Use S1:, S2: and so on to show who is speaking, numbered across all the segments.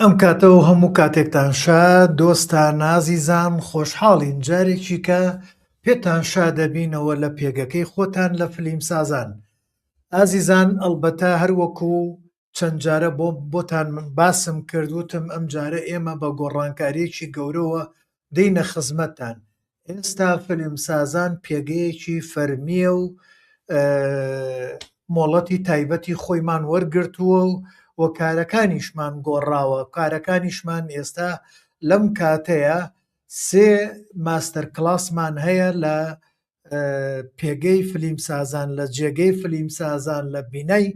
S1: ئەم کاتەوە هەموو کاتێکتان شا دۆستا نازیزان خۆشحاڵین جارێکی کە پێتان شا دەبینەوە لە پێگەکەی خۆتان لە فلیم سازان ئازیزان ئەلبەتە هەروەکو چەند جارە بۆ بۆتان من باسم کرد وتم ئەم جارە ئێمە بە گۆڕانکاریەکی گەورەوە دینە خزمەتان ئێستا فلمسازان پێگەیەکی فەرمیە و مۆڵەتی تایبەتی خۆیمان وەرگرتووە و و کارەکانیشمان گۆڕاوە کارەکانیشمان ئێستا لەم کاتەیە سێ ماستەر کلاسمان هەیە لە پێگەی فلیم سازان لە جێگەی فلیم سازان لە بینای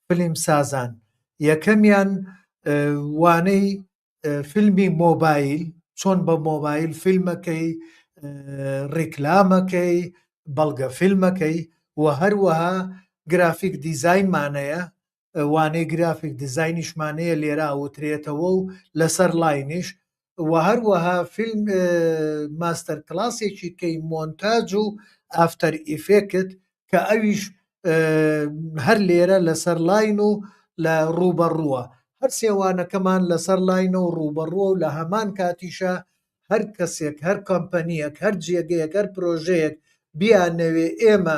S1: فلیم سازان یەکەمیان وانەی فیلمی مۆبایل چۆن بە مۆبایل فیلمەکەی ڕیکلامەکەی بەڵگە فیلمەکەی و هەروەها گرافیک دیزینمانەیە وانەی گرافیک دیزاینیشمانەیە لێرە ئەوترێتەوە و لەسەر لاینیش و هەروەها فیلم ماستەر کلاسێکی کەی مۆنتاج و ئافتەر ئیفێکت کە ئەویش هەر لێرە لەسەر لاین و لە ڕووبەڕووە هەر سێوانەکەمان لەسەر لاینە و ڕووبەڕووە و لە هەمان کاتیشە هەر کەسێک هەر کۆمپەنیەک هەر جێگەیەک هەر پرۆژەیەک بیانەوێ ئێمە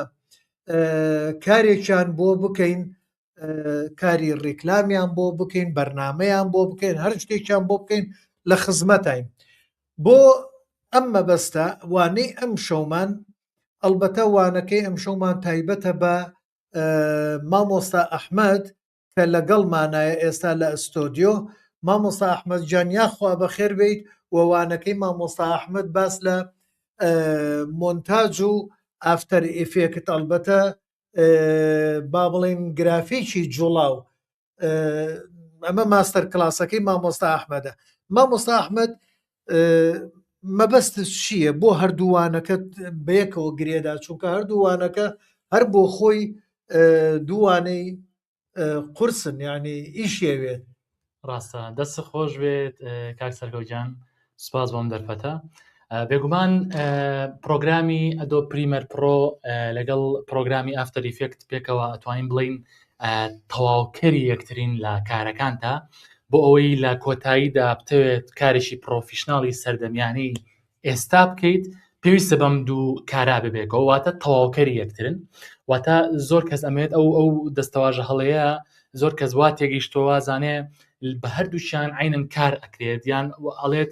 S1: کارێکیان بۆ بکەین کاری ڕیکلامیان بۆ بکەین بەرنمەیان بۆ بکەین هەر شتێکیان بۆ بکەین لە خزمەتین بۆ ئەم مەبەستە وانەی ئەم شەومان ئەلبەتە وانەکەی ئەم شەومان تایبەتە بە مامۆستا ئەحمد کە لەگەڵمانایە ئێستا لە ئەستۆدیۆ مامۆستا ئەحمەد گیان یاخوا بەخێر بێیت و وانەکەی مامۆستا ئەحمەد باس لە مۆنتاج و ئافتەر ئیفێکت ئەڵبەتە با بڵێین گرافیکی جوڵاو ئەمە ماستەر کلاسەکەی مامۆستا ئەحمەدە مامۆستا ئەحمەد مەبەست چییە بۆ هەردووانەکەت بەیەکەوە گرێدا چونکە هەردووانەکە هەر بۆ خۆی دووانەی قورسن ینی ئیشێوێت ڕاستە
S2: دەست خۆش بێت کاک سەرگەوجان سپاس بۆم دەرفەتە بێگومان پرۆگرامی ئەدۆ پریمەر پرۆ لەگەڵ پرۆگرامی ئافتەریفێکت پێکەوە ئەتوانین بڵین تەواوکەری یەکترین لە کارەکانتا بۆ ئەوەی لە کۆتاییدا بتەوێت کارێکی پرۆفیشنناڵی سەردەمیانەی ئێستا بکەیت پێویستە بەم دوو کارا ببێکەوە واتە تەواوکەری یەکترن واتە زۆر کەس ئەمێت ئەو ئەو دەستەواژە هەڵەیە زۆر کەس وا تێگەیشتەوە زانێ بە هەردووشیان عینەن کار ئەکرێت یان ئەڵێت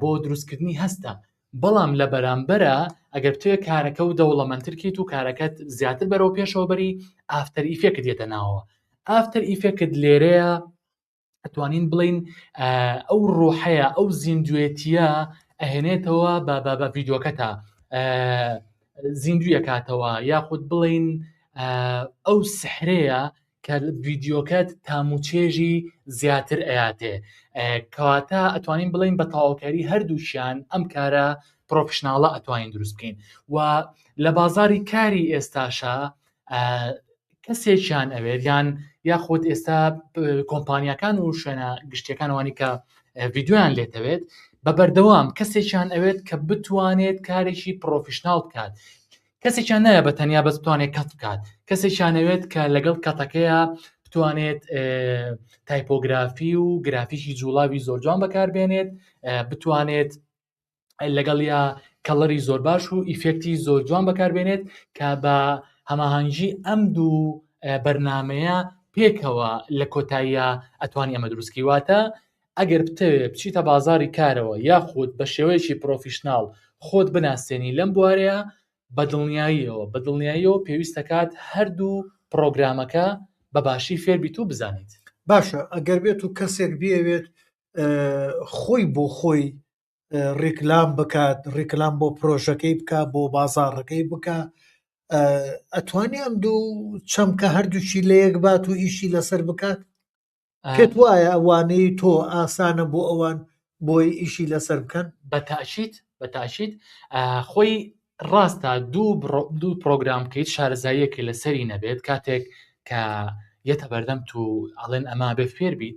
S2: بۆ دروستکردنی هەستە بەڵام لە بەرامبەرە ئەگەر توێ کارەکە و دەوڵەمەندترکیت و کارەکەت زیاتر بەرەو پێشەوە بەری ئافتەر ئیفێکت یەتە ناوەوە ئافتەر ئیفێکت لێرەیە ئەتوانین بڵین ئەو ڕۆحەیە ئەو زیندوێتیە ئەهێنێتەوە بە بە بە ڤیددیوکەتە زیندویەکاتەوە یاخود بڵین ئەو سحرەیە کە ڤیدیۆکەت تام و چێژی زیاتر ئەیاتێ کەواتە ئەتوانین بڵین بە تاواکاری هەردووشیان ئەم کارە پرۆفشنناڵە ئەتوانین دروست بکەین و لە بازاری کاری ئێستاشە کەسێکیان ئەوێت یان یاخود ئێستا کۆمپانیەکان و شوێنە گشتیەکانوانی کە ڤیددیویان لێتەوێت بە بەردەوام کەسێکیان ئەوێت کە بتوانێت کارێکی پرۆفشنناڵ بکات کەسێکیان نایە بە تەنیا بەس بتوانێت کەت بکات کەسێکیانەوێت کە لەگەڵ کەتەکەیە بتوانێت تایپۆگرافی و گرافیکی جوڵاوی زۆر جوان بەکاربێنێت بتوانێت لەگەڵیا کەڵەری زۆر باش و ئیفێکتی زۆر جوان بەکاربێنێت کە بە هەماهنگگی ئەم دوو بەرنمەیە پێکەوە لە کۆتاییە ئەتوانی ئەمە دروستکەی واتە ئەگەر بتەوێت بچیتە بازاری کارەوە یاخود بە شێوەیەکی پرۆفیشناڵ خۆت بناسێنی لەم بوارەیە بە دڵنیاییەوە بە دڵنیاییەوە پێویستەکات هەردوو پرۆگرامەکە بە باشی فێربیت و بزانیت باشە ئەگەر
S1: بێت و کەسێک بێوێت خۆی بۆ خۆی ڕیکلام بکات ڕیکلام بۆ پرۆژەکەی بکە بۆ بازاڕەکەی بکە ئەتوانی ئەم دوو چەمکە هەردووچی لە یەک بات و ئیشی لەسەر بکات پێت وایە ئەوانەی تۆ ئاسانە بۆ ئەوان بۆی ئیشی لەسەر بکەن بە تاشیت بە
S2: تاشیت خۆی ڕاستە دوو دوو پرۆگرام بکەیت شارەزاییەکە لەسەری نەبێت کاتێک کە یەتە بەردەم تو ئەڵێن ئەما بێ فێر بیت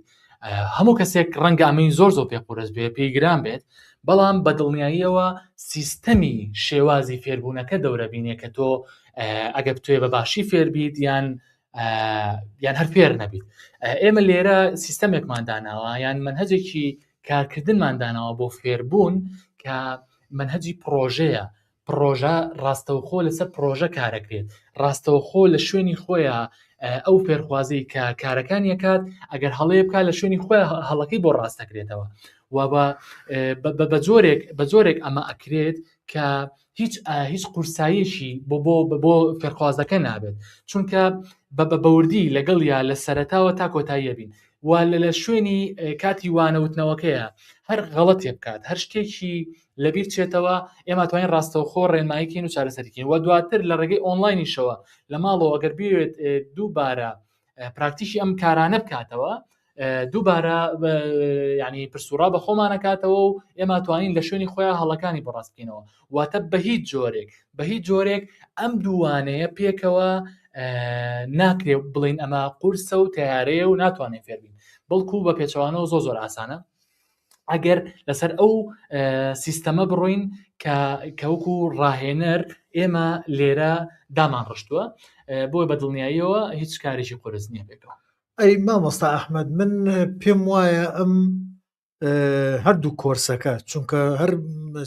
S2: هەموو کەسێک ڕەنگە ئەمەی زۆر زۆر پێ قورس بێ پێی گران بێت بەڵام بە دڵنیاییەوە سیستەمی شێوازی فێربوونەکە دەورەبینێ کە تۆ ئەگەر توێ بە باشی فێربیت یان یان هەر فێر نەبیت ئێمە لێرە سیستەمێکمان داناوە یان منهجێکی کارکردنمان داناوە بۆ فێربوون کە منهجی پرۆژەیە پرۆژە ڕاستەوخۆ لەسەر پرۆژە کارەکرێت ڕاستەوخۆ لە شوێنی خۆیان ئەو فێرخوازی کە کارەکان یەکات ئەگەر هەڵەیە بک لە شوێنی خۆی هەڵەکەی بۆ ڕاستەکرێتەوە و بە جۆرێک بە جۆرێک ئەمە ئەکرێت کە هیچ هیچ قورساییەکی بۆ بۆ بۆ فێرخوازەکە نابێت چونکە بە بە بەوردی لەگەڵ یا لە سەرتاوە تا کۆتاییە بین وا لە لە شوێنی کاتی وانەوتنەوەکەیە هەر غەڵەتێ بکات هەر شتێکی لەبیر چێتەوە ئێمە توانین ڕاستەوخۆ ڕێنمایکین و چارەسەرکین و دواتر لە ڕێگەی ئۆنلاینیشەوە لە ماڵەوە ئەگەر بێت دووبارە پراکتیشی ئەم کارانە بکاتەوە دووبارە ینی پرسوڕا بە خۆمانەکاتەوە و ئێمە توانین لە شوێنی خۆیان هەڵەکانی بەڕاستکەینەوە واتە بە هیچ جۆرێک بە هیچ جۆرێک ئەم دووانەیە پێکەوە ناکرێ بڵین ئەمە قورسە و تیارەیە و ناتوانێت فێربین بەڵکو بە پێچوانەوە زۆ زۆر ئاسانە ئەگەر لەسەر ئەو سیستەمە بڕۆین کە کەوەکو ڕاهێنەر ئێمە لێرە دامان ڕشتووە بۆی بە دڵنیاییەوە هیچ کارێکی قرس نییە بێتەوە ئەی مامۆستا
S1: ئەحمد من پێم وایە ئەم هەردوو کۆرسەکە چونکە هەر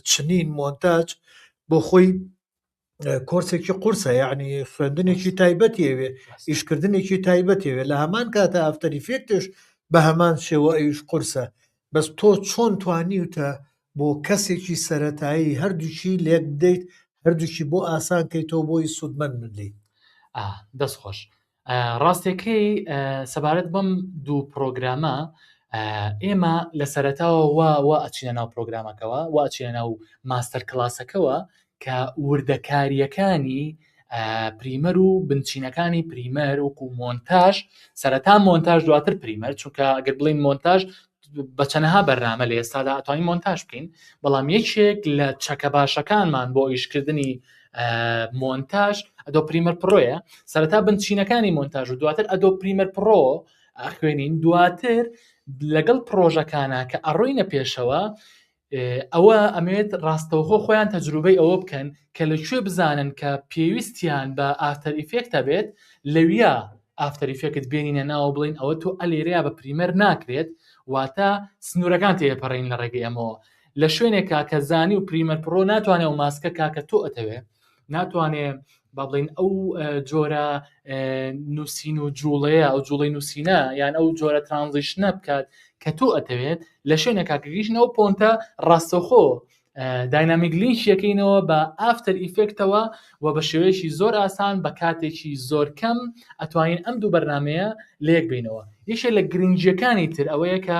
S1: چنین مۆنتاج بۆ خۆی کۆرسێکی قورسە یعنی خوێندنێکی تایبەتی ئەوێ ئیشکردنێکی تایبەتی ئەوێ لە هەمان کاتە ئەفتەری فێکتش بە هەمان شێوە ئەویش قورسە بەس تۆ چۆن توانیوتە بۆ کەسێکی سەتایی هەردووشی لێک بدەیت هەردووشی بۆ ئاسانکەیتەوە بۆی سوودمەند بدەیت دەست
S2: خۆش ڕاستەکەی سەبارەت بەم دوو پرۆگرامە ئێمە لە سەرەتاوە وا وا ئەچینە ناو پرۆگرامەکەەوە وا ئەچینە ناو ماستەر کلاسەکەەوە کە وردەکاریەکانی پریمەر و بنچینەکانی پریمەر وکو مۆنتاژ سەرەتا مۆنتاژ دواتر پریمەر چونکە گەر بڵین مۆنتاژ بە چەنەها بەرنامە لە ئێستادا ئەتوانین مۆنتاژ بکەین بەڵام یەکێک لە چەکە باشەکانمان بۆ ئیشکردنی مۆنتاژ ئەدۆ پریمەر پڕۆیە سەرەتا بنچینەکانی مۆنتاژ و دواتر ئەدۆ پریمەر پڕۆ ئەخوێنین دواتر لەگەڵ پرۆژەکانە کە ئەڕۆینە پێشەوە ئەوە ئەمەوێت ڕاستەوخۆ خۆیان تەجروبەی ئەوە بکەن کە لە کوێ بزانن کە پێویستیان بە ئافتەر ئیفێکت هەبێت لەویا ئافتەر ئیفێکت بێنینە ناوە بڵین ئەوە تۆ ئەلێرەیە بە پریمەر ناکرێت واتە سنوورەکان تێپەڕین لە ڕێگەی ئەمەوە لە شوێنێکا کە زانی و پریمەر پڕۆ ناتوانێت و ماسکە کاکە تۆ ئەتەوێ ناتوانێ با بڵین ئەو جۆرە نووسین و جوڵەیە ئەو جوڵی نووسینە یان ئەو جۆرە ترانزیشنە بکات کە تۆ ئەتەوێت لە شوێنە کاکەگەیشتنەوە پۆنتە ڕاستەخۆ داینامیک لینش یەکەینەوە بە ئافتەر ئیفێکتەوە و بە شێوەیەکی زۆر ئاسان بە کاتێکی زۆر کەم ئەتوانین ئەم دوو بەرنمەیە لەیەک بینەوە یەکێ لە گرنگیەکانی تر ئەوەیە کە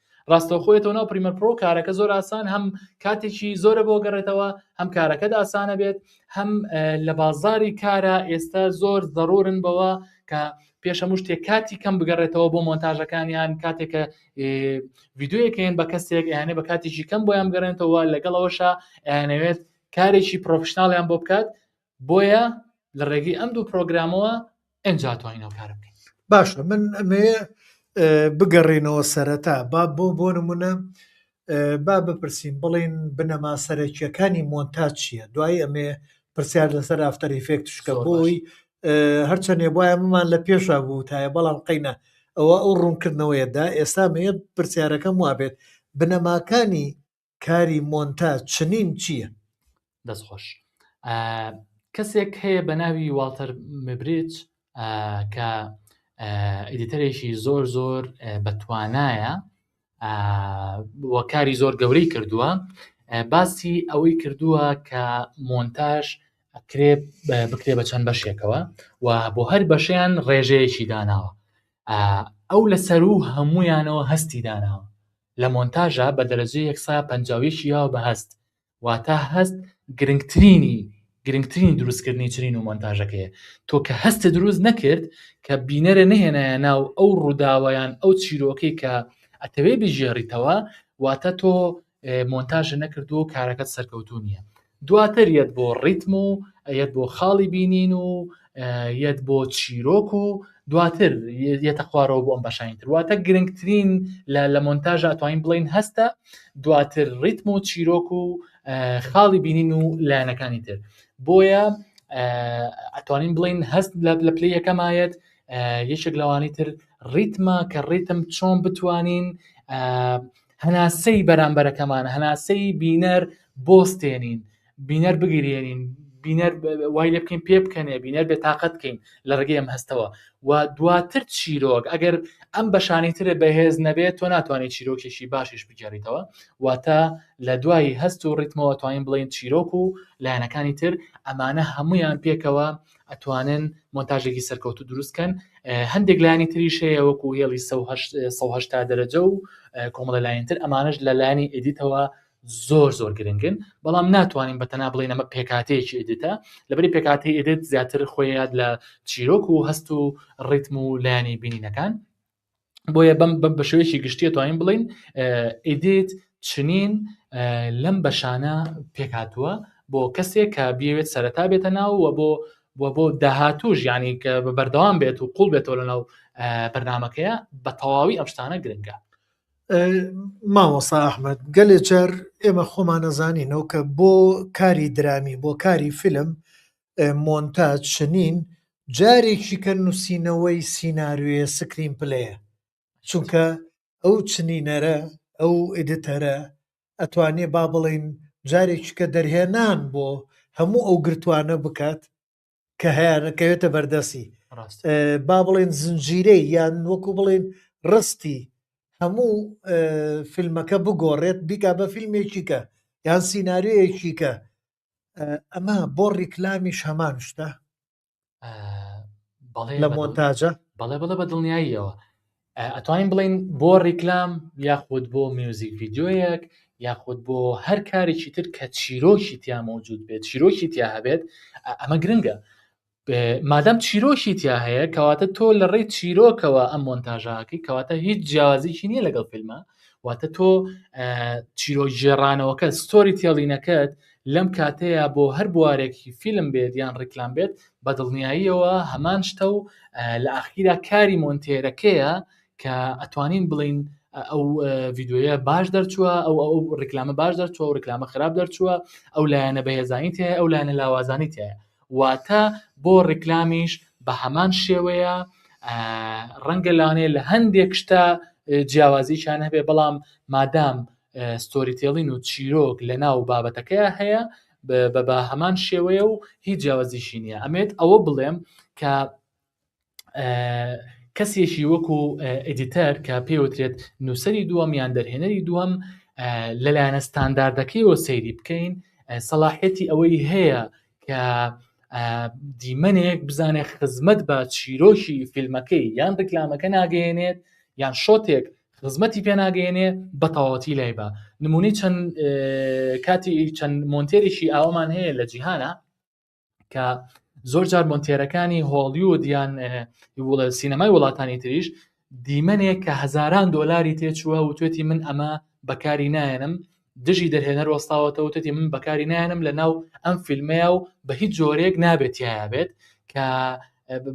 S2: ڕاستەوخۆ یەتەوە ناو پریمەر پرۆ کارەکە زۆر ئاسان هەم کاتێکی زۆرە بۆ گەڕێتەوە هەم کارەکەت ئاسانە بێت هەم لە بازاری کارە ئێستا زۆر زەڕورن بەوە کە پێشە مشتێک کاتی کەم بگەڕێتەوە بۆ مۆنتاژەکانیان کاتێکە یددیوەکەیان بە کەسێک یانێ بە کاتێکی کەم بۆیان گەڕێنەوە لەگەڵەوەشە ئەیانەوێت کارێکی پرۆفشنناڵیان بۆ بکات بۆیە لە ڕێگەی ئەم دوو پرۆگرامەوە ئەجا توانین ئەو کارە بکەین باشە من
S1: ئەمێ بگەڕێنەوە سەرەتا با بۆ بۆ نمونە با بپرسین بڵین بنەما سەرەکیەکانی مۆنتاج چییە دوای ئەمێ پرسیار لەسەر ئافتەر ئیفێکت شکە بۆی هەرچەندێ بواە ممان لە پێشا بوو تایە بەڵام قینە ئەوە ئەو ڕوونکردنەوەیەدا ئێستا مێ پرسیارەکەم وابێت بنەماکانی کاری مۆنتاج چنین چییە؟ دەست خۆش
S2: کەسێک هەیە بە ناوی واڵتەر مبریج کە ئیدیتەرێکی زۆر زۆر بەتوانایە وەکاری زۆر گەورەی کردووە باسی ئەوەی کردووە کە مۆنتاژ ئەکرێ بکرێ بە چەند بەشێکەوە و بۆ هەر بەشیان ڕێژەیەکی داناوە ئەو لە سەرو هەمویانەوە هەستی داناوە لە مۆنتاژا بە دەرەجەی یەک سا پەنجا و یەک ی یاوە بە هەست واتا هەست گرنگترینی گرنگترینی دروستکردنی چنین و مۆنتاژەکەیە تۆ کە هەستت دروست نەکرد کە بینەرە نەهێنایە ناو ئەو ڕووداوەیان ئەو چیرۆکەی کە ئەتەوێ بژێڕیتەوە واتە تۆ مۆنتاژە نەکردو کارەکەت سەرکەوتو نییە دواتر یەت بۆ ڕیتم و یەت بۆ خاڵی بینین و یەت بۆ چیرۆک و دواتر یەتە خوارەوە بۆ ئەم بەشانی تر واتە گرنگترین لە لە مۆنتاژ ئەتوانین بڵین هەستە دواتر ڕیتم و چیرۆک و خاڵی بینین و لایەنەکانی تر بۆیە ئەتوانین بڵین هەست لە پلی یەکەمایەت یەکێک لەوانی تر ڕیتمە کە ڕیتم چۆن بتوانین هەناسەی بەرامبەرەکەمان هەناسەی بینەر بۆستێنین بینەر بگرێنین بینەر وای لێ بکەین پێ بکەنێ بینەر بێ تااقەت بکەین لە ڕگەی ئەم هەستەوە و دواتر چیرۆک ئەگەر ئەم بەشانی ترە بەهێز نەبێت تۆ ناتوانانی چیرۆکێکی باشیش بگەڕیتەوە واتە لە دوای هەست و ڕیتمەوە توانین بڵین چیرۆک و لایەنەکانی تر ئەمانە هەمویان پێکەوە ئەتوانن مۆنتاژێکی سەرکەوتوو دروست کەن هەندێک لایانی تریش هەیە وەکو هێڵی سەهشتا دەرەجە و کۆمەڵە لایەنتر ئەمانش لە لایانی ئیدیتەوە زۆر زۆر گرنگن بەڵام ناتوانین بە تەنا بڵێن ئەمە پێکاتەیەکی ئیدیتە لەبری پێکاتی ئیدت زیاتر خۆیاد لە چیرۆک و هەست و ڕیتم و لایانی بینینەکان بۆیە بەم بەم بە شێوەیەکی گشتیە توانین بڵین ئیدیت چنین لەم بەشانە پێکاتوە بۆ کەسێک کە بێت سەرەتا بێتە ناوە بۆ بۆ بۆ داهاتوش ینی کە بە بەردەوام بێت و قوڵ بێتەوە لە ناو بەرنمەکەیە بە تەواوی ئەم شتانە گرنگە مامۆسا
S1: ئەحمد گەلێ جار ئێمە خۆمانەزانینەوە کە بۆ کاری درامی بۆ کاری فیلم مۆنتاج چنین جارێکی کە نووسینەوەی سیناروێ سکرین پلەیە چونکە ئەو چنینەرە ئەو ئیدتەرە ئەتوانێ با بڵین جارێکی کە دەرهێنان بۆ هەموو ئەو گرتوانە بکات کە هەیەەکەوێتە بەردەسی با بڵێن زنجیرەی یان وەکو بڵێن ڕستی هەموو فیلمەکە بگۆڕێت بیکا بە فیلمێکیکە یان سینناریەکیکە ئەمە بۆ ڕیکلامیش هەمان شتە لە مۆنتاجە بەڵێ بڵە بە
S2: دڵنیاییەوە ئەتوانین بڵین بۆ ڕیکلام یاخود بۆ میوزیک ڤیددیویەک یاخود بۆ هەر کارێکی تر کە چیرۆکی تیا مەوجود بێت چیرۆکی تیا هەبێت ئەمە گرنگە مادام چیرۆکی تیا هەیە کەواتە تۆ لە ڕێی چیرۆکەوە ئەم مۆنتاژاکەی کەواتە هیچ جیازیی نییە لەگەڵ فیلمە واتە تۆ چیرۆژێڕانەوەکە ستۆری تێڵینەکەت لەم کاتەیە بۆ هەر بوارێکی فیلم بێت یان ڕیکلام بێت بە دڵنیاییەوە هەمان شتە و لە ئاخیرا کاری مۆنتێرەکەیە کە ئەتوانین بڵین ئەو ڤیددیوە باش دەرچووە ئەو ئەو ڕیکلامە باش دەرچووە و ڕیکلامە خراپ دەرچووە ئەو لایەنە بەهێزانی تێ ئەو لایەنە لاوازانی تێ واتە بۆ ڕیکلامیش بە هەمان شێوەیە، ڕەنگە لەوانەیە لە هەندێک شتا جیاوازییەکیان هەبێ بەڵام مادام ستۆری تێڵین و چیرۆک لە ناو بابەتەکەیە هەیە بە بە هەمان شێوەیە و هیچ جیاوازیشی نییە ئەمێت ئەوە بڵێم کە کەسێکی وەکو ئەدیتەر کە پێوترێت نووسری دووەم یان دەرهێنەری دووەم لەلایەنە ستانداردەکەیەوە سەیری بکەین سەلاحەتی ئەوەی هەیە کە دیمەنێک بزانێت خزمەت بە چیرۆکی فیلمەکەی یان ڕیکلامەکە ناگەێنێت یان شۆتێک خزمەتی پێناگەێنێ بە تەواتی لای بە نمونی چەند کاتی چەند مۆنتێرێکی ئاوامان هەیە لە جیهانە کە زۆر جار مۆنتێرەکانی هۆڵیود یان سینەمای وڵاتانی تریش دیمەنێک کە هەزاران دۆلاری تێچووە و توێتی من ئەمە بەکاری نایەنم دژی دەرهێنەر وەستاوەتەوە توێتی من بەکاری نایەنم لە ناو ئەم فیلمەیە و بە هیچ جۆرێک نابێتیایە بێت کە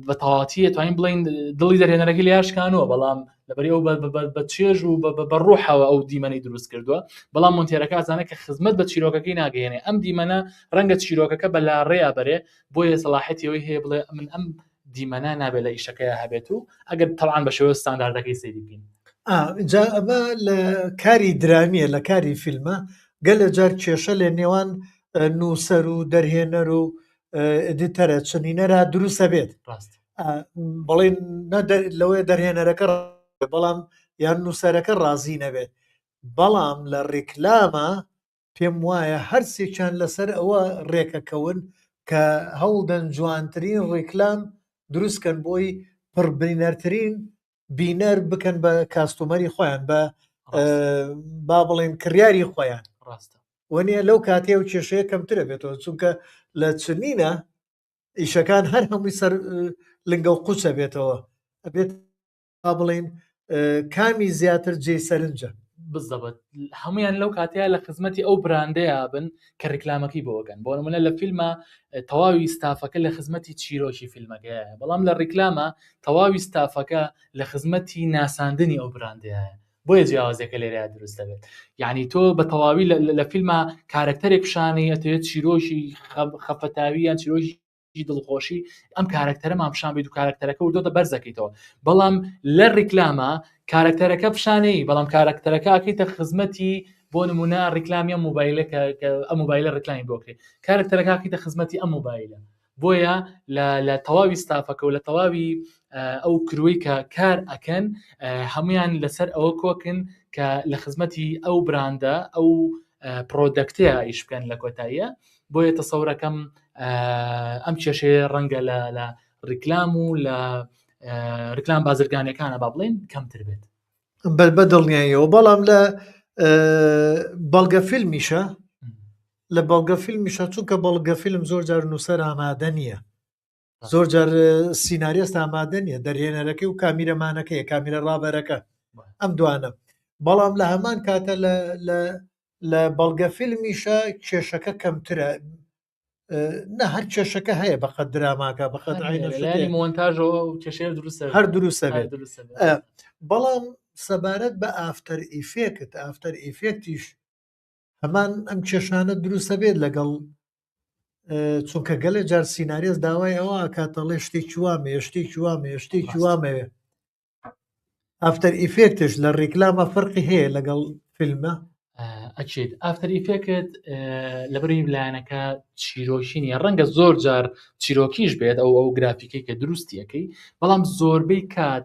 S2: بە تەواتی توانین بڵین دڵی دەرێنەرەکە لە یاشکانەوە بەڵام لەبەری ئەو بە چێژ و بە ڕوحەوە ئەو دیمەنی دروست کردووە بەڵام مونتێرەکە زانە کە خزمەت بە چیرۆکەکەی ناگەێنێ ئەم دیمەنە ڕەنگە چیرۆکەکە بە لا ڕێیا بەرێ بۆیە سەڵاحەتەوەی هەیە بڵێ من ئەم دیمەە نابێت لە ئیشەکەی هەبێت و ئەگەر تەوان بە شێوە ستانداردەکەی سەری بکەین جا ئەمە
S1: لە کاری درامیە لە کاری فیلمە گەلە جار کێشە لە نێوان نووسەر و دەرهێنەر و ئدیتەرە چنینەرە دروستە بێت ڕاست بەڵێ لەوێ دەرهێنەرەکە بەڵام یان نووسەرەکە ڕازی نەبێت بەڵام لە ڕیکلامە پێم وایە هەرسێکیان لەسەر ئەوە ڕێکەکەون کە هەوڵدەن جوانترین ڕیکلام دروستکەن بۆی پڕبینەرترین بینەر بکەن بە کاستومەری خۆیان بە با بڵێن کڕیاری خۆیان ڕاستە وەنیە
S2: لەو کاتێ
S1: و کێشەیە کەمترە بێتەوە چونکە لە چنینە ئیشەکان هەر هەمووی سەر لنگە و قوچە بێتەوە ئەبێت با بڵین کامی زیاتر جێ سەرنجە بزەبت
S2: هەمویان لەو کاتەیە لە خزمەتی ئەو براندەیە بن کە ڕیکلامەکەی بۆ ئەکەن بۆ نمونە لە فیلمە تەواوی ستافەکە لە خزمەتی چیرۆکی فیلمەکەیە بەڵام لە ڕیکلامە تەواوی ستافەکە لە خزمەتی ناساندنی ئەو براندەیە بۆیە جیاوازەکە لێرە دروست دەبێت یعنی تۆ بە تەواوی لە فیلمە کارکتەرێک پیششانەی ئەتەوێت چیرۆکی خەفەتاویان چیرۆژی دڵخۆشی ئەم کارەکتەرەمان پیشان بیت و کارەکتەرەکە و دۆتە بەرزەکەیتەوە بەڵام لە ڕیکلامە کارەکتەرەکە پیشانەی بەڵام کارەکتەرەکە ئەکەیتە خزمەتی بۆ نمونە ڕیکلامیە موبایلە کە ئەم موبایلە ڕکلامی بۆکرێت کارەکتەرەکەکەیتە خزمەتی ئەم موبایلە بۆیە لە تەواوی ستافەکە و لە تەواوی ئەو کروی کە کار ئەکەن هەمویان لەسەر ئەوە کۆکن کە لە خزمەتی ئەو براندە ئەو پرۆدەکتەیە ئیش بکەن لە کۆتاییە بۆیە تەسەورەکەم ئەم کێشەیە ڕەنگە لە لە ڕیکلام و لە ڕیکلام بازرگانەکانە با بڵێن کەمتر بێت بەر بە
S1: دڵنیاییەوە بەڵام لە بەڵگە فیلمیشە لە بەڵگە فیلمیشە چونکە بەڵگە فیلم زۆر جار نووسەر ئامادە نییە زۆر جار سینناریست ئامادە نیە دەرهێنەرەکەی و کامیرەمانەکەی کامیرە ڕابەرەکە ئەم دوانە بەڵام لە هەمان کاتە لە بەڵگە فیلمیشە کێشەکە کەمترە نە هەر کێشەکە هەیە بەقە دراماکە بەخەت مۆنتاژەوە
S2: کێشێ دروست هەر دروستە بێت
S1: بەڵام سەبارەت بە ئافتەر ئیفێکت ئافتەر ئیفێکتیش هەمان ئەم کێشانە دروستە بێت لەگەڵ چونکە گەلێ جار سینناریێز داوای ئەوە کاتەڵێ شتێکی وامێ شتێکی وامێ شتێکی وامەوێ ئەفتەر ئیفێکتش لە ڕیکلامە فەرقی هەیە لەگەڵ فیلمە ئەچێت
S2: ئافتەر ئیفێکت لەبری لایەنەکە چیرۆکینی ڕەنگە زۆر جار چیرۆکیش بێت ئەو ئەو گرافیکەی کە دروستیەکەی بەڵام زۆربەی کات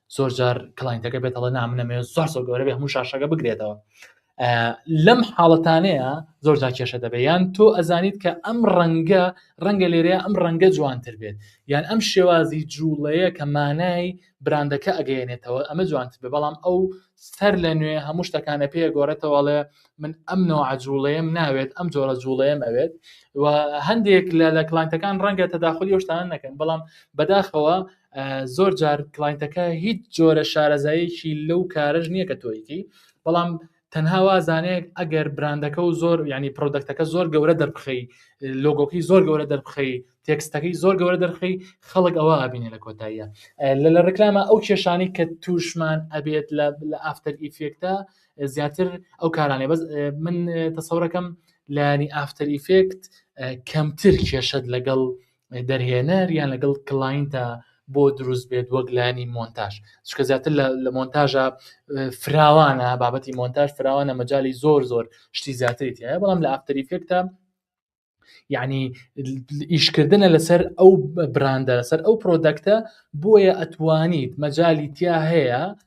S2: زۆر جار کلاینتەکە بێت هەڵە نامنەمێ زۆر زۆر گەورە بێ هەموو شاشەکە بگرێتەوە لەم حاڵەتانەیە زۆر جا کێشە دەبێت یان تۆ ئەزانیت کە ئەم ڕەنگە ڕەنگە لێرەیە ئەم ڕەنگە جوانتر بێت یان ئەم شێوازی جوڵەیە کە مانای براندەکە ئەگەێنێتەوە ئەمە جوانتر بێ بەڵام ئەو سەر لە نوێ هەموو شتەکانە پێ گۆڕێتەوەڵێ من ئەم نەوە جوڵەیەم ناوێت ئەم جۆرە جوڵەیەم ئەوێت و هەندێک لە لە کلانتەکان ڕەنگە تەداخلی شتان نەکەن بەڵام بەداخەوە زۆر جار کلاینتەکە هیچ جۆرە شارەزایەکی لەو کارەش نییە کە تۆیکی بەڵام تەنها وازانێک ئەگەر براندەکە و زۆر ینی پرۆدەکتەکە زۆر گەورە دەربخی لۆگۆکی زۆر گەورە دەربخی تێکستەکەی زۆر گەورە دەرخی خەڵک ئەوە ئابینێ لە کۆتاییە لە لە ڕکلامە ئەو کێشانی کە توشمان ئەبێت لە لە ئافتەر ئیفێکتە زیاتر ئەو کارانێ بەس من تەسەورەکەم لانی ئافتەر ئیفێکت کەمتر کێشت لەگەڵ دەرهێنەر یان لەگەڵ کلاینتە بۆ دروست بێت وەک لانی مۆنتاژ چکە زیاتر لە مۆنتاژە فراوانە بابەتی مۆنتاژ فراوانە مەجای زۆر زۆر شتی زیاتری تایە بەڵام لە ئافتەریفێکتە یعنی ئیشکردنە لەسەر ئەو براندە لەسەر ئەو پرۆدەکتە بۆیە ئەتوانیت مەجای تیا هەیە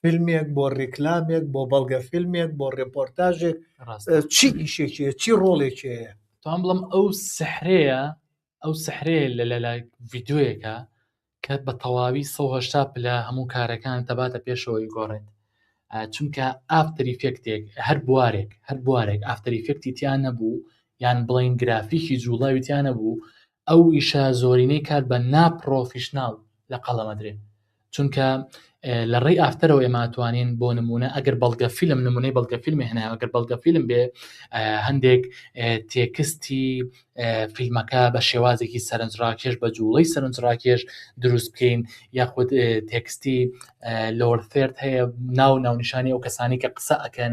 S1: فیلمێک بۆ ڕیکلامێک بۆ بەڵگە فیلمێک بۆ ڕێپۆرتاژێک چی ئیشێکی چی ڕۆڵێکەیە تام بڵم ئەو
S2: سحرەیە ئەو سحرەیە لە لەلای ڤیددیوەکە کە بە تەواوی 1970 پلە هەموو کارەکان دەباتە پێشەوەی گۆڕێت چونکە ئافتریفێکتێک هەر بوارێک هەر بوارێک ئافتریفێکتی تیان نەبوو یان بڵین گرافیکی جوڵاوی تیانە بوو ئەو ئیشە زۆرینەی کات بە ناپڕۆفیشنناڵ لە قەڵەمەدرێن چونکە لە ڕێی ئافتەرەوە ئێماتوانین بۆ نمونە ئەگەر بەڵگە فیلم نمونەی بەڵگە فیلمی هەناگەر بەڵگە فیلم بێ هەندێک تێکستی فیلمەکە بە شێوازێکی سەرنجڕاکێش بە جوڵەی سەرنجڕاکێش دروست بکەین یاخود تێکستی لۆرفێرت هەیە ناو ناونیشانی ئەو کەسانی کە قسە ئەکەن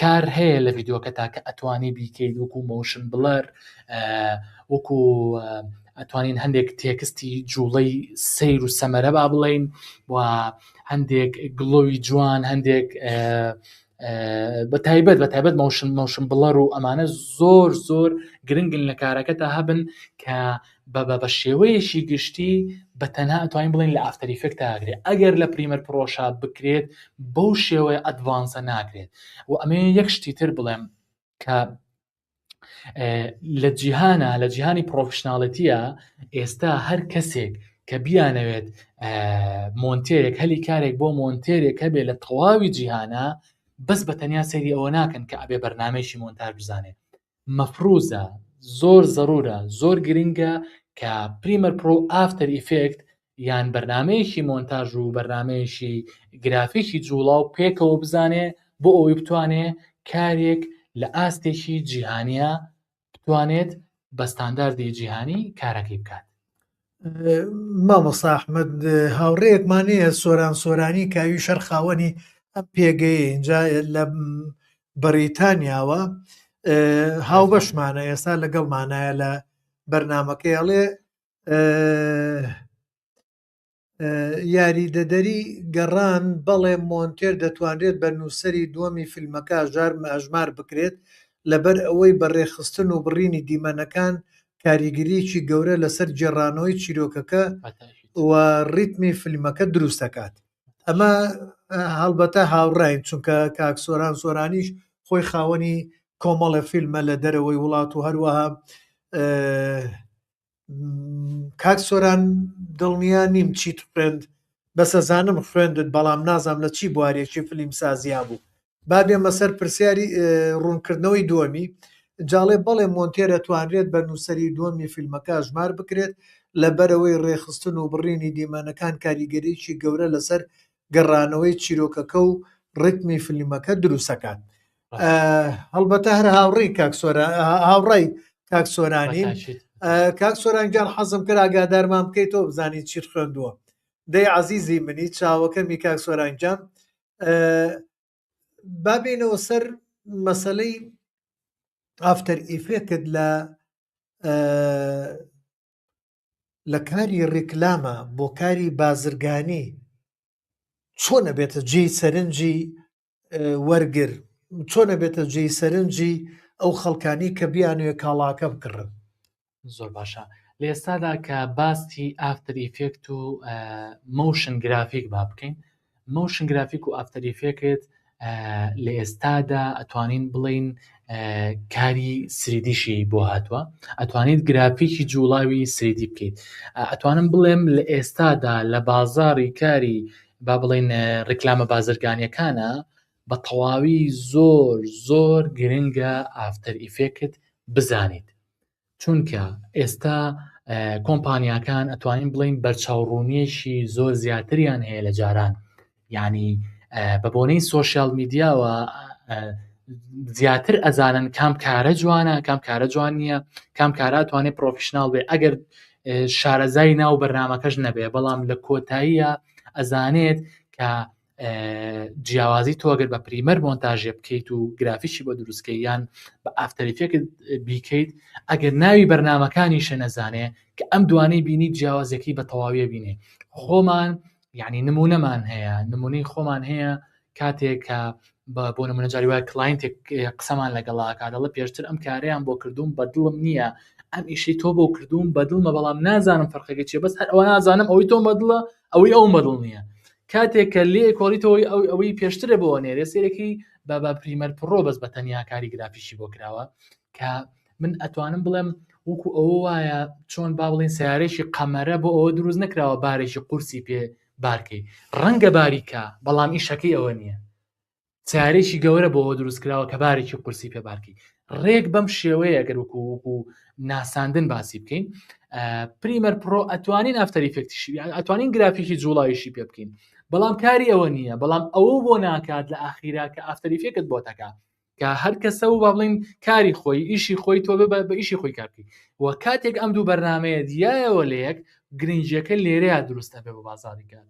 S2: کار هەیە لە ڤیدۆکە تاکە ئەتوانی بیکەیت وەکو مۆشن بڵەر وەکو ئەتوانین هەندێک تێکستی جوڵەی سیر و سەمەرە با بڵین و هەندێک گڵۆوی جوان هەندێک بە تایبەت بە تایبەت مۆشن مۆشن بڵەر و ئەمانە زۆر زۆر گرنگن لە کارەکە تا هەبن کە بە بە شێوەیەکی گشتی بە تەنها ئەتوانین بڵێن لە ئافتەر ئیفێکت تاگرێت ئەگەر لە پریمەر پرۆشا بکرێت بەو شێوەیە ئەدڤانسە ناکرێت و ئەمێ یەک شتی تر بڵێم کە لە جیهانە لە جیهانی پرۆفشنناڵەتیە ئێستا هەر کەسێک کە بیانەوێت مۆنتێرێک هەلی کارێک بۆ مۆنتێرێک هەبێت لە تەواوی جیهانە بەس بە تەنیا سەیری ئەوە ناکەن کە ئەبێ بەرنمەیەکی مۆنتار بزانێت مەفروزە زۆر زەرورە زۆر گرنگە کە پریمەر پرۆ و ئافتەر ئیفێکت یان بەرنامەیەکی مۆنتاژ و بەرنامەیەکی گرافیکی جوڵاو پێکەوە بزانێ بۆ ئەوەی بتوانێ کارێک لە ئاستێکی جیهانیە بتوانێت بە ستانداردی جیهانی کارەکەی بکات.
S1: مامۆستا ئەحمەد هاوڕێیەکمان هەیە سۆران سۆرانی کاوی شەر خاوەنی ئەم پێگەی اینجا لە بەریتانیاوە هاوبەشمانە ئێستا لەگەڵمانایە لە بەرنمەکەی ئەڵێ یاریدەدەری گەڕان بەڵێ مۆنتێر دەتوانرێت بە نووسری دووەمی فیلمەکە ژار ئەژمار بکرێت لەبەر ئەوەی بە ڕێکخستن و بڕینی دیمەنەکان کاریگەرییەکی گەورە لەسەر گێڕانەوەی چیرۆکەکە و ڕیتمی فیلمەکە دروست دەکات ئەمە هەڵبەتە هاوڕاین چونکە کاک سۆران سۆرانیش خۆی خاوەنی کۆمەڵە فیلمە لە دەرەوەی وڵات و هەروەها کاک سۆران دڵنیا نیم چیت خوێند بەسە زانم خوێندت بەڵام نازام لە چی بوارێکی فلیم سازیا بوو با بێمە سەر پرسیاری ڕوونکردنەوەی دووەمی جاڵێ بەڵێ مۆنتێرە توانرێت بە نووسری دووەمی فیلمەکە ژمار بکرێت لە بەرەوەی ڕێخستن و بڕینی دیمەنەکان کاریگەریی گەورە لەسەر گەڕانەوەی چیرۆکەکە و ڕتمی فلیمەکە دروستەکات هەڵبەتە هەر هاوڕی کاک هاوڕای کاک سۆرانی کاک سۆرانگیان حەزم کرد ئاگادارمان بکەیتەوە بزانین چیت خوێندووە دەی عزیزی منی چاوەکەمی کاک سۆرانگیان بابینەوە سەر مەسلەی ئافتەر ئیفێکت لە لە کاری ڕیکلامە بۆ کاری بازرگانی چۆن نەبێتە جێی سەرنجی وەرگر چۆن نەبێتە جێی سەرنجی ئەو خەڵکانی کە بیانوێ کاڵاکە بکڕن زۆر
S2: باشە لە ئێستادا کە باستی ئافتر ئیفێکت و مۆشن گرافیک با بکەین مۆشن گرافیک و ئافتەر ئیفێکت لە ئێستادا ئەتوانین بڵین کاری سریدیشی بۆ هاتووە ئەتوانیت گرافیکی جوڵاوی سریدی بکەیت ئەتوانم بڵێم لە ئێستادا لە بازاری کاری با بڵین ڕیکلامە بازرگانیەکانە بە تەواوی زۆر زۆر گرنگە ئافتەر ئیفێکت بزانیت چونکە ئێستا کۆمپانیاکان ئەتوانین بڵین بەرچاوڕوونیەکی زۆر زیاتریان هەیە لە جاران ینی بە بۆنەی سۆسیال میدیاوە زیاتر ئەزانن کام کارە جوانە کام کارە جوان نییە کام کارە توانێت پرۆفیشنناڵ بێ ئەگەر شارەزای ناو بەرنمەکەش نەبێ بەڵام لە کۆتاییە ئەزانێت کە جیاوازی تۆگەر بە پریمەر مۆنتاژێ بکەیت و گرافیشی بۆ دروستکە یان بە ئافتەریفێکت بیکەیت ئەگەر ناوی بەرنمەکانی شەنەزانێ کە ئەم دوانەی بینی جیاوازەکەی بە تەواویە بینێ خۆمان یعنی نمونەمان هەیە نمونەی خۆمان هەیە کاتێک کە بە بۆ نمونەجاری وایە کلاینتێک قسەمان لەگەڵاکە دەڵە پێشتر ئەم کارەیان بۆ کردوم بە دڵم نییە ئەم ئیشی تۆ بۆ کردوم بە دڵمە بەڵام نازانم فەرقەکە چێ بەس هەر ئەوە نازانم ئەوەی تۆ مەدڵە ئەوەی ئەو مەدڵ نییە کاتێک کە لێ کۆڵیتەوەی ئەو ئەوەی پێشترە بۆ نێرێ سێرەکەی بە بە پریمەر پڕۆ بەس بە تەنیا کاری گرافیشی بۆ کراوە کە من ئەتوانم بڵێم وەکو ئەوە وایە چۆن با بڵین سیارێکی قەمەرە بۆ ئەوە دروست نکراوە بارێکی قورسی پێ بارکەی ڕەنگە باریکە بەڵام ئیشەکەی ئەوە نییە تارێکی گەورە بۆەوە دروست کراوە کە بارێکی قورسی پێ بارکی ڕێک بەم شێوەیە گەر وکو وکو ناساندن باسی بکەین پریمەر پرۆ ئەتوانین ئەفتەری فێکتیشی ئەتوانین گرافیکی جوڵایشی پێ بکەین بەڵام کاری ئەوە نییە بەڵام ئەوە بۆ ناکات لە ئاخیرا کە ئافتەری فێکت بۆ تەکە کە هەر کەسە و با بڵین کاری خۆی ئیشی خۆی تۆ بە بە ئیشی خۆی کارکی و کاتێک ئەم دوو بەرنمەیە دیایەوە لە یەک گرنجەکە لێرەیە دروستە بێ بە بازاریکە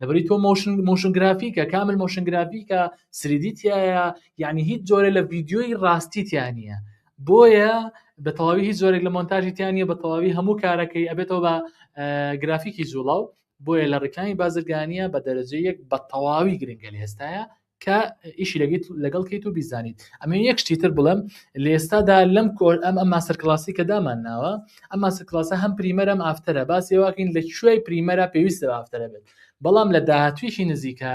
S2: لەبری تۆ مۆشن مۆشن گرافیکە کامل مۆشن گرافیکە سریدی تایە یعنی هیچ جۆرە لە ڤیددیۆی ڕاستی تیانە بۆیە بە تەواوی هیچ زۆرێک لە مۆنتاژی تیانە بە تەواوی هەموو کارەکەی ئەبێتەوە بە گرافیکی زوڵاو بۆیە لە ڕکانی بازرگانیە بە دەرەجە یەک بە تەواوی گرنگە لە ئێستاە کە ئیشی لەگەیت لەگەڵ کەیت و بیزانیت ئەمە یەک شتی تر بڵێم لە ئێستادا لەم کۆر ئەم ئەم ماستەر کلاسی کە دامان ناوە ئەم ماستەر کلاسە هەم پریمەرم ئافتەرە باسی واکەین لە کوێی پریمەرە پێویستە ئافتەرە بێت بەڵام لە داهاتویشی نزیکە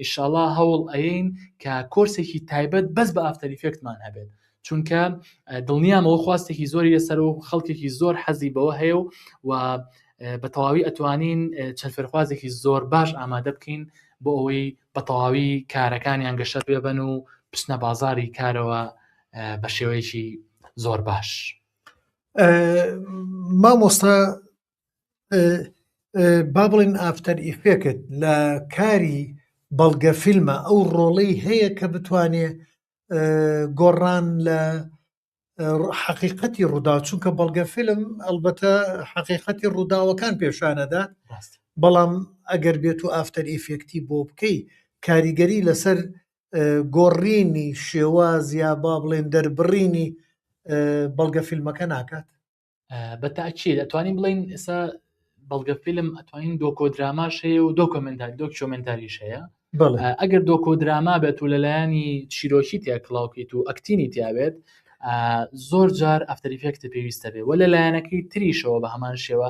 S2: ئیشاڵا هەوڵ ئەین کە کۆرسێکی تایبەت بەس بە ئافتەریفێکتمان هەبێت چونکە دڵنیام ئەوە خواستێکی زۆری لەسەر و خەڵکێکی زۆر حەزی بەوە هەیە و و بە تەواوی ئەتوانین چەند فێرخوازێکی زۆر باش ئامادە بکەین بۆ ئەوەی بە تەواوی کارەکانیان گەشە پێبن و بچنە بازاری کارەوە بە شێوەیەکی زۆر باش
S1: مامۆستا با بڵین ئافتەر ئیفێکت لە کاری بەڵگە فیلمە ئەو ڕۆڵەی هەیە کە بتوانێت گۆڕان لە حەقیقەتی ڕوودا چونکە بەڵگە فیلم ئەلبەتە حەقیقەتی ڕووداوەکان پێشانەدات بەڵام ئەگەر بێت و ئافتەر ئیفێکتی بۆ بکەی کاریگەری لەسەر گۆڕینی شێواز یا با بڵێن دەربڕینی بەڵگە فیلمەکە ناکات بە
S2: تاکیێت ئەتوانین بڵین ئێستا بەڵگە فیلم ئەتوانین دۆکۆ دراماش هەیە و دۆکۆمنتال دۆکیۆمنتاریش هەیە ئەگەر دۆکۆ دراما بێت و لەلایەنی چیرۆکی تیا کلااوکیت و ئەکتینی تیاوێت زۆر جار ئەفتەریفێکتە پێویستە بێ وە لە لایەنەکەی تریشەوە بە هەمان شێوە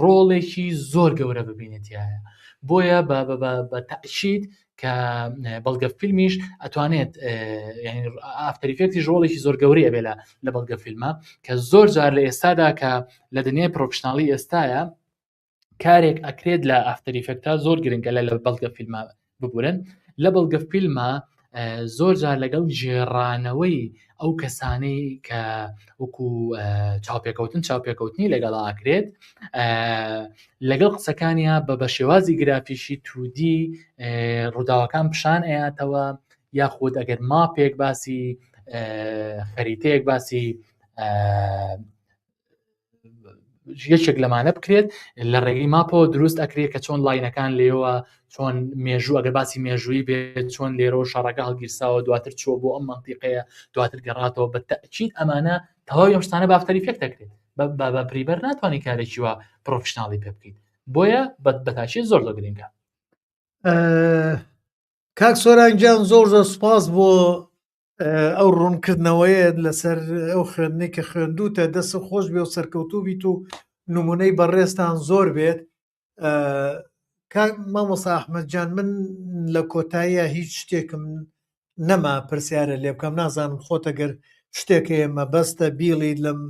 S2: ڕۆڵێکی زۆر گەورە ببینێت تیایە بۆیە بە بە بە بە تەئکید کە اه، بەڵگە فیلمیش ئەتوانێت ئافتەریفێکتیش اه، ڕۆڵێکی زۆر گەورەی ئەبێ لە لە بەڵگە فیلمە کە زۆر جار لە ئێستادا کە لە دنیای پرۆفشنناڵی ئێستاە کارێک ئەکرێت لە ئافتەریفێکتا زۆر گرنگە لە لە بەڵگە فیلمە ببورن لە بەڵگە فیلمە زۆر جار لەگەڵ ژێڕانەوەی ئەو کەسانەی کە وەکو چاوپێکەوتن چاوپێکەوتنی لەگەڵ ئاکرێت لەگەڵ قسەکانیا بە بە شێوازی گرافیشی تودی ڕووداوەکان پیشان ئەیاتەوە یاخود ئەگەر ماپێک باسی خەریتەیەک باسی یەکێک لەمانە بکرێت لە ڕێگەی ماپەوە دروست ئەکرێت کە چۆن لاینەکان لێەوە چۆن مێژوو ئەگەر باسی مێژووی بێت چۆن لێرە و شەڕەکە هەڵگیرساوە دواتر چۆ بۆ ئەم منتیقەیە دواتر گەڕاتەوە بە تاکیید ئەمانە تەواوی ئەمشتانە بافتەری فێک دەکرێت بە پریبەر ناتوانانی کارێکی وە پرۆفشنناڵی پێ بکەیت بۆیە بە بەتاشی زۆر لە گرنگە
S1: کاک سۆرانگیان زۆر زۆر سپاس بۆ ئەو ڕوونکردنەوەیە لەسەر ئەو خوێندنی کە خوێندوتە دەست خۆش بێ و سەرکەوتوو بیت و نمونەی بەڕێزتان زۆر بێت مامۆسا ئەحمەدجان من لە کۆتاییە هیچ شتێکم نەما پرسیارە لێ بکەم نازانم خۆتەگەر شتێک ئێمە بەستە بیڵی لەم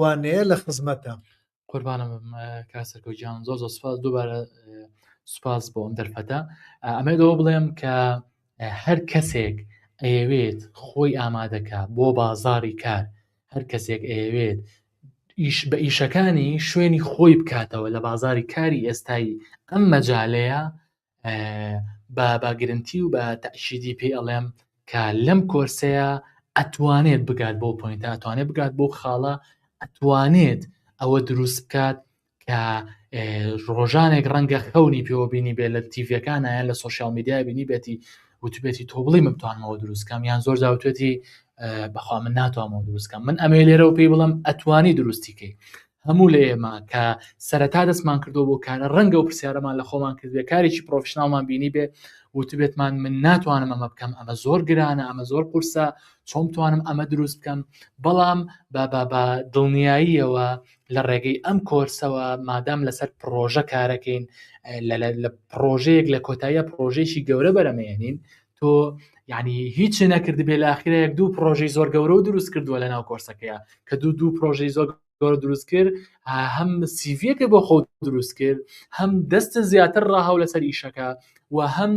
S1: وانەیە لە خزمەتە قوربانە
S2: کا سەرکە گیان زۆر زۆر سپاس دووبارە سپاس بۆ ئەم دەرفەتە ئەمە دەوە بڵێم کە هەر کەسێک ئەیەوێت خۆی ئامادەکە بۆ بازاری کار هەر کەسێک ئەیەوێت ئیش بە ئیشەکانی شوێنی خۆی بکاتەوە لە بازاری کاری ئێستایی ئەم مەجالەیە با بە گرنتی و بە تەشیدی پێی ئەڵێم کە لەم کۆرسەیە ئەتوانێت بگات بۆ پوینتە ئەتوانێت بگات بۆ خاڵە ئەتوانێت ئەوە دروست بکات کە ڕۆژانێک ڕەنگە خەونی پێوە بینی بێ لە تیڤەکانیان لە سوۆسیال میدیای بینی بێتی وتوبێتی تۆبڵی من توانمەوە دروستکەم یان زۆر داوتێتی بەخوا من ناتوانمەوە دروستکەم من ئەمێ لێرەوە پێی بڵم ئەتوانی دروستیکەی هەموو لە ئێمە کە سەرەتا دەستمان کردووە بۆ کارە ڕەنگە و پرسیارەمان لە خۆمان کردێ کارێکی پرۆفشنناڵمان بینی بێ وتبێتمان من ناتوانم ئەمە بکەم ئەمە زۆر گرانە ئەمە زۆر قورسە چۆم توانم ئەمە دروست بکەم بەڵام بابا بە دڵنیاییەوە لە ڕێگەی ئەم کۆرسەوە مادام لەسەر پرۆژە کارەکەین لە پرۆژەیەک لە کۆتاییە پرۆژێکی گەورە بەرەمێنین تۆ یعنی هیچی نەکردبێ لە ئاخرەیەک دوو پرۆژەی زۆر گەورە و دروست کردووە لە ناو کۆرسەکەیە کە دوو دوو پرۆژەی زۆر گەۆر دروست کرد هەم سیڤەکە بۆ خۆ دروست کرد هەم دەستە زیاتر ڕاهاو لەسەر ئیشەکە و هەم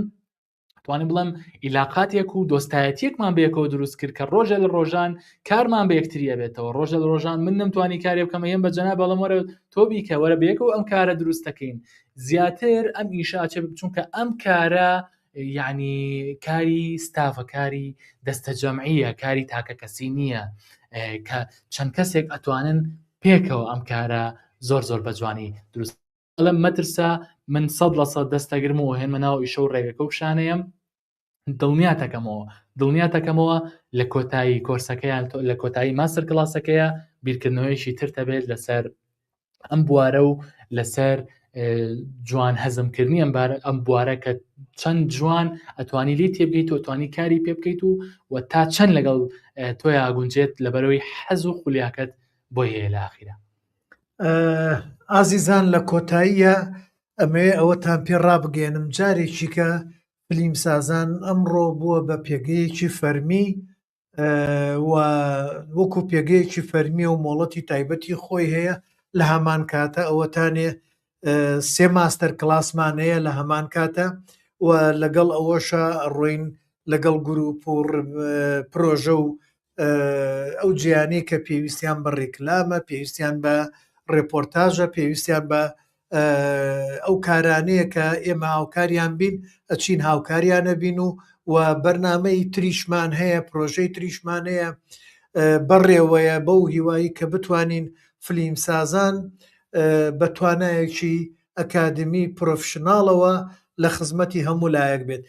S2: توانم بڵم ئیلاقاتێک و دۆستایەتیەکمان بەیەکەوە دروست کرد کە ڕۆژە لە ڕۆژان کارمان بە یەکتریە بێتەوە ڕۆژە لە ڕۆژان من نەمتوانی کارێ بکەمە هێم بە جەنا بەڵم وەرە تۆبی کە وەرە بەیەکەوە ئەم کارە دروستەکەین زیاتر ئەم ئیشاچێ بچونکە ئەم کارە یەعنی کاری ستافە کاری دەستە جەمعیە کاری تاکە کەسی نییە کە چەند کەسێک ئەتوانن پێکەوە ئەم کارە زۆر زۆر بە جوانی دروست لەم مەترسا من سەد لە سەد دەستەگرم و هێنمە ناو ئیشە و ڕێگەکە و شانەیەم دڵنیاتەکەمەوە دڵنیاتەکەمەوە لە کۆتایی کۆرسەکەیان لە کۆتایی ماستەر کلاسەکەیە بیرکردنەوەیشی ترتەبێت لەسەر ئەم بوارە و لەسەر جوان هەزمکردنی ئەم ئەم بوارە کە چەند جوان ئەتوانی لی تێبگەیت و توانی کاری پێ بکەیت و و تا چەند لەگەڵ تۆی ئاگونجێت لەبەرەوەی حەز و خولیاکەت بۆ هەیە لە ئاخیرە ئازیزان
S1: لە کۆتاییە ئەمەوێ ئەوەتان پێ ڕابگەێنم جارێکیکە فلیم سازان ئەمڕۆ بووە بە پێگەیەکی فەرمی و وەکو پێگەیەکی فەرمیە و مۆڵەتی تایبەتی خۆی هەیە لە هەمان کاتە ئەوەتانێ سێ ماستەر کلاسمان هەیە لە هەمان کاتە و لەگەڵ ئەوەشە ڕۆین لەگەڵ گروپ و پرۆژە و ئەو جیانی کە پێویستیان بە ڕێکلامە پێویستیان بە ڕێپۆرتاژە پێویستیان بە ئەو کارانەیە کە ئێمە هاوکاریان بین ئەچین هاوکاریانە بین و و بەرنمەی تریشمان هەیە پرۆژەی تریشمان هەیە بەڕێوەیە بەو هیوایی کە بتوانین فلیم سازان بە توانایەکی ئەکادمی پرۆفشنناڵەوە لە خزمەتی هەموو لایەک بێت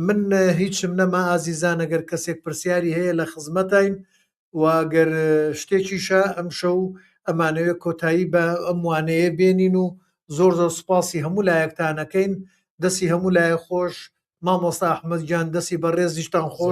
S1: من هیچم نەما ئازیزانەگەر کەسێک پرسیاری هەیە لە خزمەتین وا گەر شتێکیشە ئەمشەو ئەمانەوێت کۆتایی بە ئەم وانەیە بێنین و زۆر زۆر سوپاسی هەموو لایەکتانەکەین دەسی هەموو لایە خۆش مامۆستا ئەحمەد گیان دەسی بە ڕێزیشتان خۆش